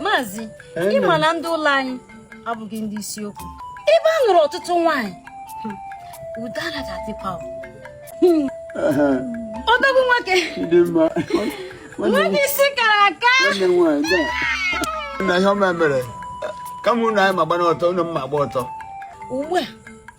maazị ịma na ndị ụlọ anyị abụghị ndị isiokwu ebe a nụrụ ọtụtụ nwaanyị udo anaghị adịkwa odogwu nwoke nwoke isi kara aka na ihe ọma mere kama ụnụ anyị ma gba n'ọtọ ụnụ mma gba ọtọ ugbu a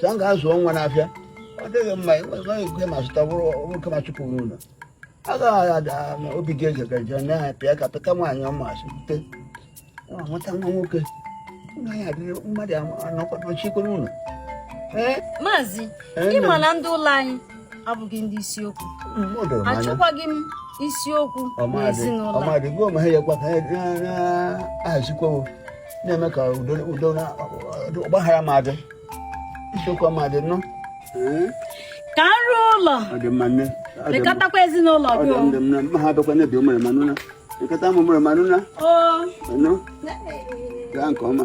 sa m ga-azụọ nwa n'afịa ọ dịghị mma enweghị ike ma zụta nwoke ma chụpụ n'ụlọ agaghị ada na obi gị eze gaje na ya pịa ka pịta nwaanyị ọma asịte nwata nwa nwoke mmadụ anọkwa n'ụlọ maazị ịma na ndị ụlọ anyị abụghị ndị isiokwu mm, achọkwaghị m isiokwu n'ezinụlọ na-eme ka udo na ọgbaghara ma adị isiokwu ma adị nnọọ eh? ka m rụọ ụlọ lekọtakwa ezinụlọ gị ha abịakwa n'ebe ụmụrụma nụna lekọta ụmụrụma nụna gaa nke ọma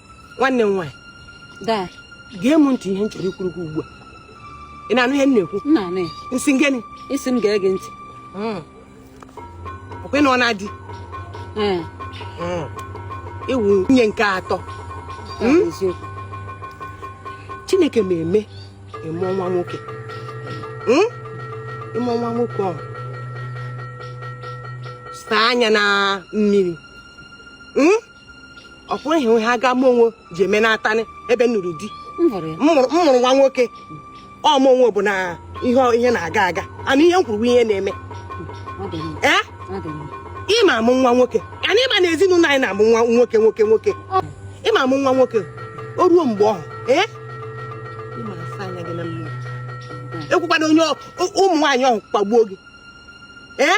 nwanne m nwaanyị daa gee m ntị ihe m chọrọ ikwuru gị ugbu a ị na-anụ ihe m na-ekwu m na-anụ ya m sị gịnị ị sị m gee gị ntị ọkwa ị nụọna di ee ị wụ nwunye nke atọ ọ bụ eziokwu chineke ma eme ịmụ nwa nwoke Mm? ịmụ nwa nwoke ọhụ saa anya na mmiri Mm? ọ kwụrụ ihe ha ga mụ onwe ji eme n'atanị ebe m nụrụ di m hụrụ ya m mụrụ m mụrụ nwa nwoke ọ mụ onwe bụ na ihe ihe na-aga aga and ihe m kwuru bụ ihe na-eme ọ dị mma ee ọ dị mma ịma amụ nwa nwoke and ịma na ezinụlọ anyị na-amụ nwa nwoke nwoke nwoke ịma amụ nwa nwoke o ruo mgbe ọhụ ee ịma asa anya gị na mmiri ekwekwana onye ọ- ụmụ nwaanyị ọhụ kpagbuo gị ee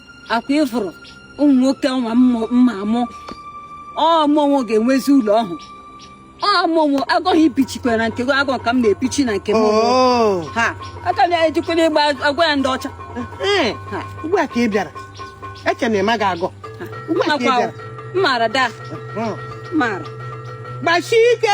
ọkwa ị fụrụ ụmụ nwoke nwa m ma amụ ọ mụ onwe ga-enwezi ụlọ ọhụ ọ mụ onwe agụghị ibichikwa na nke agụ ka m na-ebichi na nke m oh. ha aka na-ejikwere ịgba agwa ya ndị ọcha eh, eh. ugbu a ka ị bịara eche na ịma ga-agụ mmaara daa hmm. mmaara gbasie ike